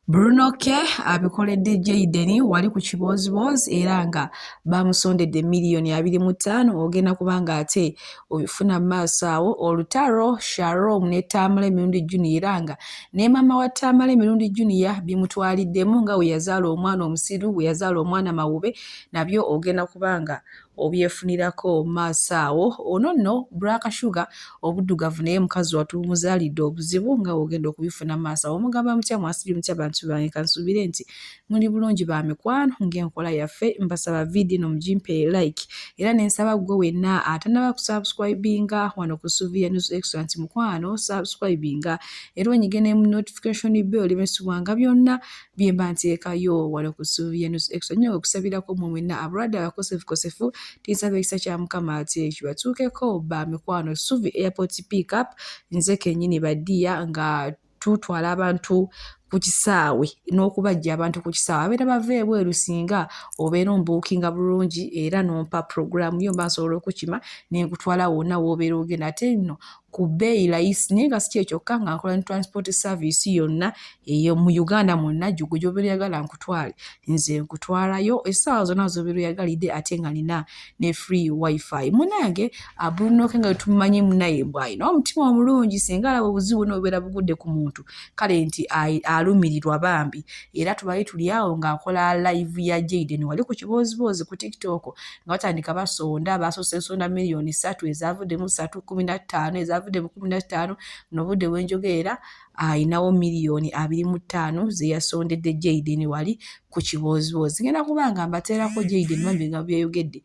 Bruno K abikoledde Jayden wali ku kibooziboozi era nga baamusondedde miliyoni abiri mu ttaano ogenda kuba ng'ate obifuna mu maaso awo olutalo Sharom ne Tamale Mirundi Junior era nga ne maama wa Tamale Mirundi Junior bimutwaliddemu nga we yazaala omwana omusiru we yazaala omwana mawube nabyo ogenda kuba nga obyefunirako maaso awo ono nno black sugar obuddugavu naye mukazi watu bumuzaalidde obuzibu nga wogenda okubifuna maaso awo mugamba mutya mwasibye mutya bantu bange kansuubire nti muli bulungi ba mikwano ng'enkola yaffe mbasaba vidiyo eno mugimpe like era ne nsaba ggwe wenna atanaba kusubscribinga wano ku suviya news extra nti mukwano subscribinga era onyige ne mu notification bell bensubwanga byonna bye mba nteekayo wano ku ssuubi ye nusu extra nnyo okusabirako mwe mwenna abalwadde abakosefukosefu tinsaba ekisa kya mukama ate kibatuukeko ba mikwano ssuubi airport pick up nze kennyini badiya nga tutwala abantu ku kisaawe n'okubajja abantu ku kisaawe abeera bava ebweru singa obeera ombuukinga bulungi era n'ompa puroguramu yo mba nsobola okukima ne nkutwala wonna w'obeera ogenda ate nno ku bbeeyi layisi naye nga si kye kyokka nga nkola ne transport service yonna eyo mu uganda mwonna gyogo gyobera oyagala nkutwale nze nkutwalayo essaawa zonna zobera oyagalidde ate nga nina ne free wifi munange abunoke nga wetumanyi munaye bwalina omutima omulungi singa alaba obuzibu bwona obubeera bugudde ku muntu kale nti alumirirwa bambi era tubali tuli awo ng'akola live ya jaden wali ku kibooziboozi ku tiktok nga batandika basonda basoose nsonda miliyoni ssatu ezavuddemu ssatu kumi na ttaano ezavuddemu kumi na ttaano no budde bwenjogeera ayinawo miliyoni abiri mu ttaano zeyasondedde jaiden wali ku kibooziboozi ngenda kuba nga mbateerako jaiden bambi nga byeyogedde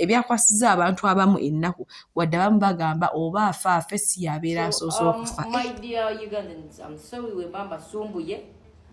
ebyakwasiza abantu abamu ennaku wadde abamu bagamba oba afa afe si yabeera asoose um, okufa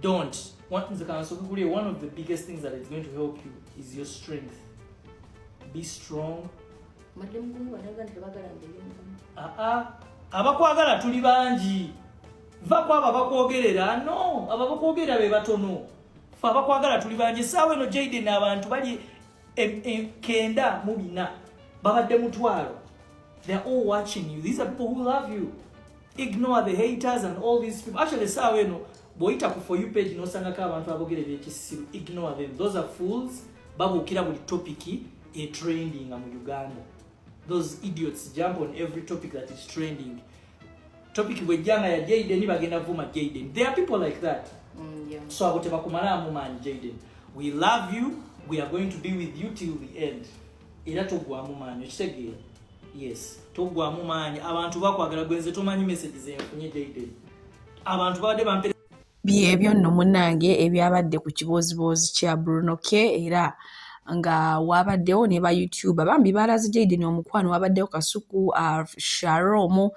don't what nze kansokukulie one of the biggest things that is going to help you is your strength be strong ah, ah. abakwagala tuli bangi va kwabo abakwogerera no abo abakwogerera be batono fe abakwagala tuli bangi esaawa eno jaiden abantu bali kenda mu bina babadde mutwalo they're all watching you these are people who love you ignore the haters and all these people actually esaawa eno bwoyita ku for you page nosangako abantu abogera ebyekisiru ignore them those are fools babuukira buli topiki etrendinga mu uganda those idiots jump on every topic that is trending topic bwejjanga ya jaden bagenda vuma jaden there are people like that mm, yeah. so abo tebakumalaamu maanyi jaden we love you we are going to be with you till the end era togwamu maanyi okitegeera yes togwamu maanyi abantu bakwagala gwenze tomanyi message zenfunye dayday abantu babadde bampere byebyo nno munange ebyabadde ku kibooziboozi kya bruno k era nga wabaddewo ne ba youtuber bambi baalaze jaiden omukwano wabaddewo kasuku uh, sharomu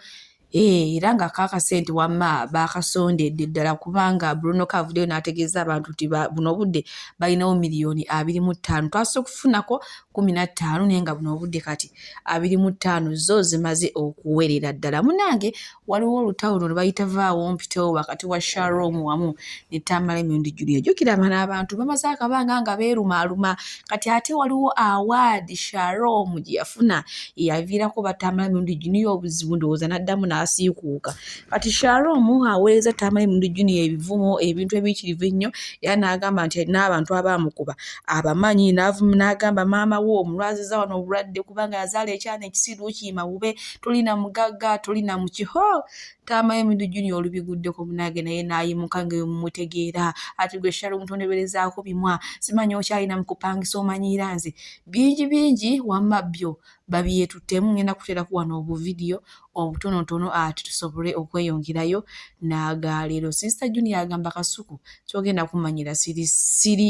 Eh, era nga kakase nti wamma baakasondedde ddala kubanga bruno kavuddeyo n'ategeeza abantu nti buno obudde balinawo miliyoni abiri mu ttaano twasose okufunako kumi na ttaano naye nga buno obudde kati abiri mu ttaano zo zimaze okuwerera ddala munange waliwo olutawo luno lwebayita vaawo mpitewo wakati wa sharom wamu ne tamale mirundi julia jukira abana abantu bamaze akabanga nga beerumaaluma kati ate waliwo awaadi sharom gye yafuna eyaviirako batambula mirundi juniya obuzibu ndowooza n'addamu n'asiikuuka kati sharom aweereza tambula mirundi juniya ebivumo ebintu ebiyitirivu ennyo era n'agamba nti alina abantu abaamukuba abamanyi n'agamba maama we omulwaziza wano obulwadde kubanga yazaala ekyana ekisiru kiima bube tolina mugagga tolina mukiho Taamayo Midu Junior olubiguddeko munange naye n'ayimuka nga mumutegeera ati gwe Shalom tondeberezaako bimwa simanyi okyalina mu kupangisa omanyiira nze bingi bingi wamma byo babyetuttemu ngenda kuteerako wano obuvidiyo obutonotono ati tusobole okweyongerayo n'agaleero sister Junior agamba kasuku kyogenda kumanyira siri siri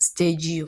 stage yo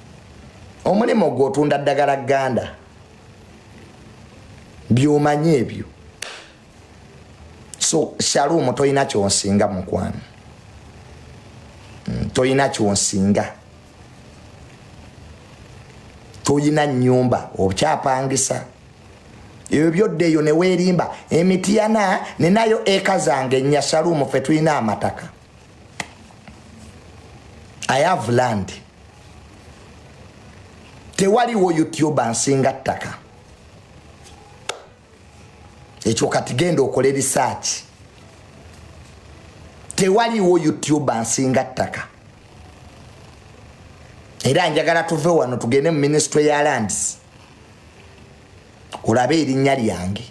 omulimu ogwo otunda ddagala ganda byomanyi ebyo so shalumu tolina kyonsinga mukwano mm, tolina kyonsinga tolina nyumba okyapangisa ebyo byodda eyo newerimba emitiyana ninayo eka zange nya shalumu fe tulina amataka i have land tewaliwo youtube nsinga ttaka ekyo kati genda okole research tewaliwo youtube nsinga ttaka era njagala tuve wano tugende mu ministry ya lands olabe erinnya lyange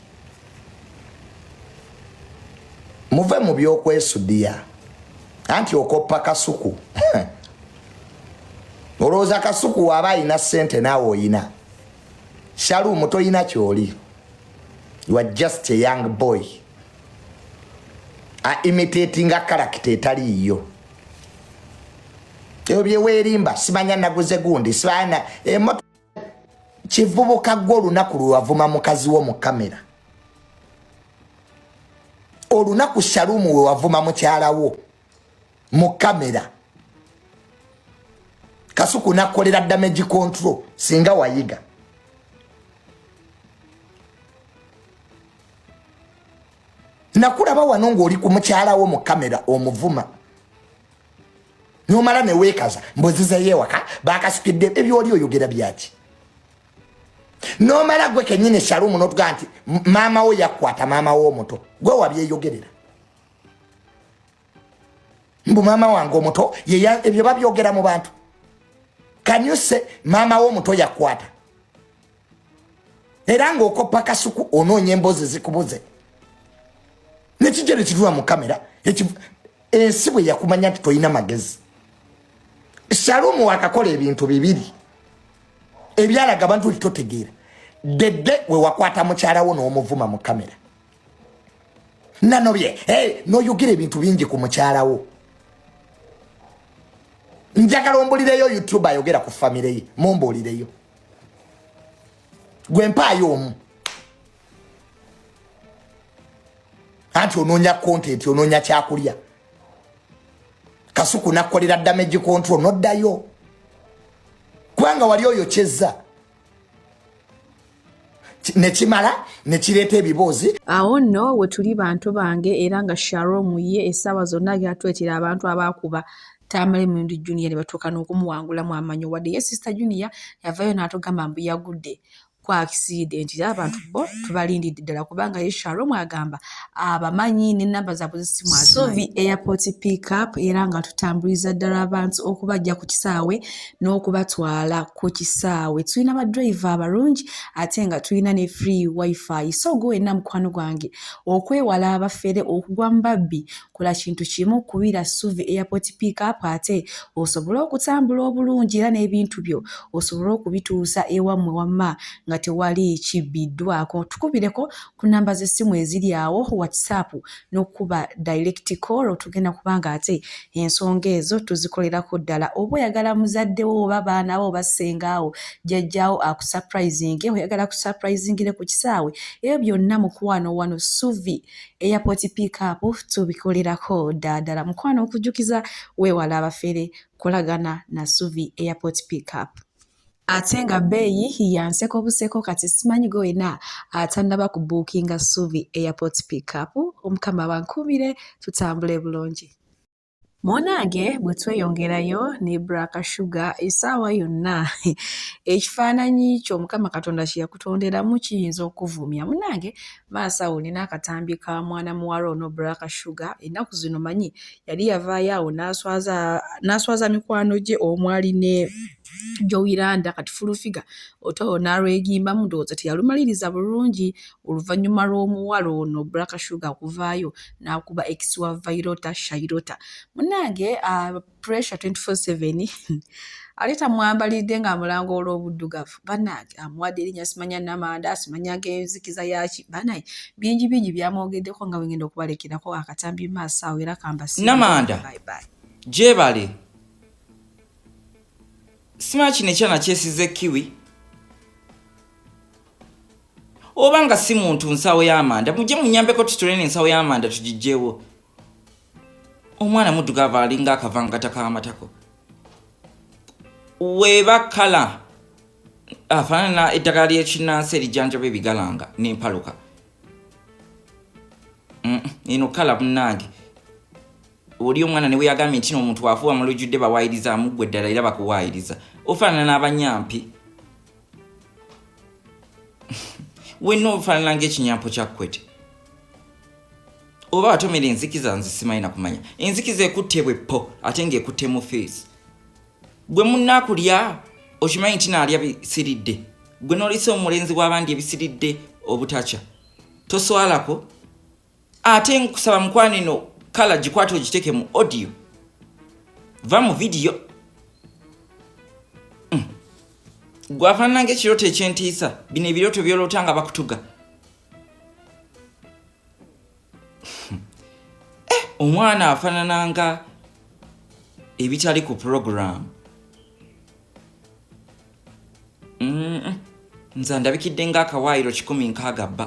muve mu byokwesudiya anti okoppa kasuku olowooza kasuku waaba alina sente naawe oyina shalumu toyina kyoli you are just a young boy a imitatinga karakita etaliiyo ebyo byeweerimba simanya naguze gundi simanya kivubuka gwe olunaku lwewavuma mukazi wo mu kamera olunaku shalumu wewavuma mukyala wo mu kamera kasuku nakolera damage control singa wayiga nakulaba wano ngaoli ku mukyala wo mu kamera omuvuma nomala newekaza mbuzizeyo ewaka bakasukidde ebyoli oyogera byaki nomala gwe kenyini shalumu notuga nti maama wo yakwata maama wo omuto gwe wabyeyogerera mbu maama wange omuto ebyo babyogera mu bantu kanyuse maama wo omuto yakwata era ngaokoppa kasuku onoonya emboozi zikubuze nekijere kituwa mu kamera ensi bwe yakumanya nti tolina magezi shalumu wakakola ebintu bibiri ebyalaga abantu nti totegeera dedde we wakwata mukyalawo n'omuvuma mu kamera nanobye hey, noyogera ebintu bingi ku mukyalawo njagala ombulireyo youtube ayogera ku famire ye mumbuulireyo gwe mpaayo omu anti onoonya content onoonya kyakulya kasuku nakukolera damage control noddayo kubanga wali oyo kyezza nekimala nekireeta ebiboozi awo nno wetuli bantu bange era nga sharom ye essaawa zonna gyatwetera abantu abaakuba tamale mundi junior ne batuuka n'okumuwangulamu amanyo wadde ye sister junior yavayo n'atugamba mbu yagudde ku akisidenti era abantu bo tubalindidde ddala kubanga ye sharom agamba abamanyi nenamba zaabwe zesimu asovi airport pickup era nga tutambuliza ddala abantu okubajja ku kisaawe n'okubatwala ku kisaawe tulina badrive abalungi ate nga tulina ne free wifi so gwe wenna mukwano gwange okwewala abafere okugwa mu babbi Kola kintu kimu, kubira Ssuvi Airport Pick Up ate osobole okutambula obulungi era n'ebintu byo osobole okubituusa ewammwe wamma nga tewali kibbiddwaako. Tukubireko ku nnamba z'essimu eziri awo, WhatsApp n'okukuba direct call tugenda kuba ng'ate ensonga ezo tuzikolerako ddala. Oba oyagala muzadde wo oba baana bo oba ssengaawo, jjajjaawo akusaprayizinge, oyagala akusaprayizingire ku kisaawe, ebyo byonna mukwano wano Ssuvi airport pick up tubikolerako ddala mukwano okujjukiza weewala abafere kolagana na suvi airport pick up ate nga bbeeyi yanseko buseko kati simanyi gwe wena atannaba ku buukinga suvi airport pick up omukama bankuumire tutambule bulungi Munange bwe tweyongerayo ne Black Sugar essaawa yonna ekifaananyi kyo Mukama Katonda kye yakutonderamu kiyinza okuvumya. Munange maaso awo olina akatambi ka mwana muwala ono Black Sugar ennaku zino manyi yali yavaayo awo n'aswaza n'aswaza mikwano gye omwali ne Jowiranda kati fulufiga oto n'alwegimbamu ndowooza teyalumaliriza bulungi oluvannyuma lw'omuwala ono Black Shuga okuvaayo n'akuba ex wa Vairota Shairota. Munnange uh, pressure 24/7 ate tamwambalidde ng'amulanga olw'obuddugavu bannange amuwadde erinnya simanya namanda simanya ng'enzikiza yaki banaye bingi bingi byamwogeddeko nga wengenda okubalekerako akatambi maaso awo era kambasinamanda gyebale simanya kino ekyana kyesize kiwi oba nga si muntu nsawo y'amanda mujje munyambeko tutule n'ensawo y'amanda tugijjeewo omwana muddugavu alinga akavangata k'amatako weeba kala afaanana eddagala ly'ekinnansi erijanjaba ebigalanga n'empaluka mm, eno kala munnange oli omwana ne weyagambye nti noomuntu wafuwa mulujjudde bawaayiriza amuggwe ddala era bakuwaayiriza ofaanana n'abanyampi wenna ofaanana ngaekinyampo kya kwete oba watomera enzikiza nze simanyi nakumanya enzikiza ekutte bweppo ate ngaekutte mu feesi gwe munakulya okimanyi nti naalya bisiridde gwe nolisa omulenzi w'abandi ebisiridde obutakya toswalako ate nkusaba mukwano eno kala gikwata ogiteeke mu audio va mu vidiyo mm. gwafaanana ngaekirooto ekyentiisa bino ebirooto byoloota nga bakutuga eh, omwana afaanana nga ebitali ku puroguramu nze ndabikidde ngaakawaayiro kikumi nkaaga bba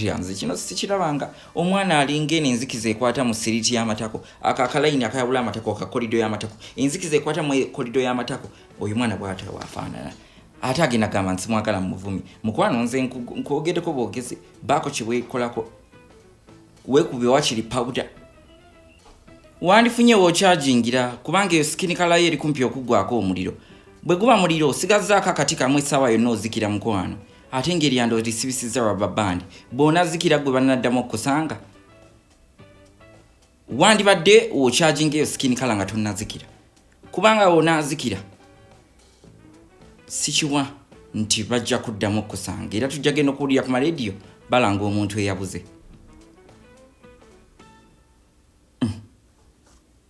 yanze kino sikirabanga omwana alinga eno enzikiza ekwata mu siriti y'amatako ako akalayini akayawula amatako akakolido y'amatako enzikiza ekwata mu kolido y'amatako oyo mwana bwata wafaanana ate agenda gamba nti simwagala mu muvumi mukwano nze nkwogedeko bwogezi baako kyewekolako wekube wakiri pawuda wandifunye wokyajingira kubanga eyo sikinikalayo eri kumpi okuggwako omuliro bwe guba muliro osigazaako akati kamu essaawa yonna ozikira mukwano ate ng'eryanda olisibisizza raba bandi bw'onazikira gwe banaddamu okukusanga wandibadde okyaginga eyo sikini kala nga tonazikira kubanga wonazikira sikiwa nti bajja kuddamu okukusanga era tujja genda okuwulira ku marediyo balanga omuntu eyabuze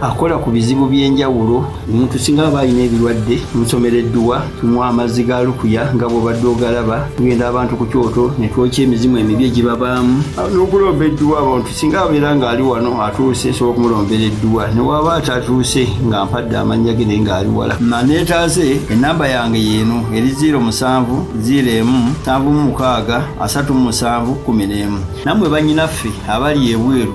akola ku bizibu by'enjawulo omuntu singa aba alina ebirwadde musomera edduwa tunywa amazzi ga lukuya nga bwobadde ogalaba tugenda abantu ku kyoto ne twokya emizimu emibi egibabaamu n'okulomba edduwa abantu singa abeera ng'ali wano atuuse nsobola okumulombera edduwa ne waaba atatuuse nga mpadde amannya ge naye ng'ali wala maneetaase ennamba yange yeeno eri ziiro musanvu ziiro emu nsanvu mu mukaaga asatu mu musanvu kkumi n'emu nammwe bannyinaffe abali ebweru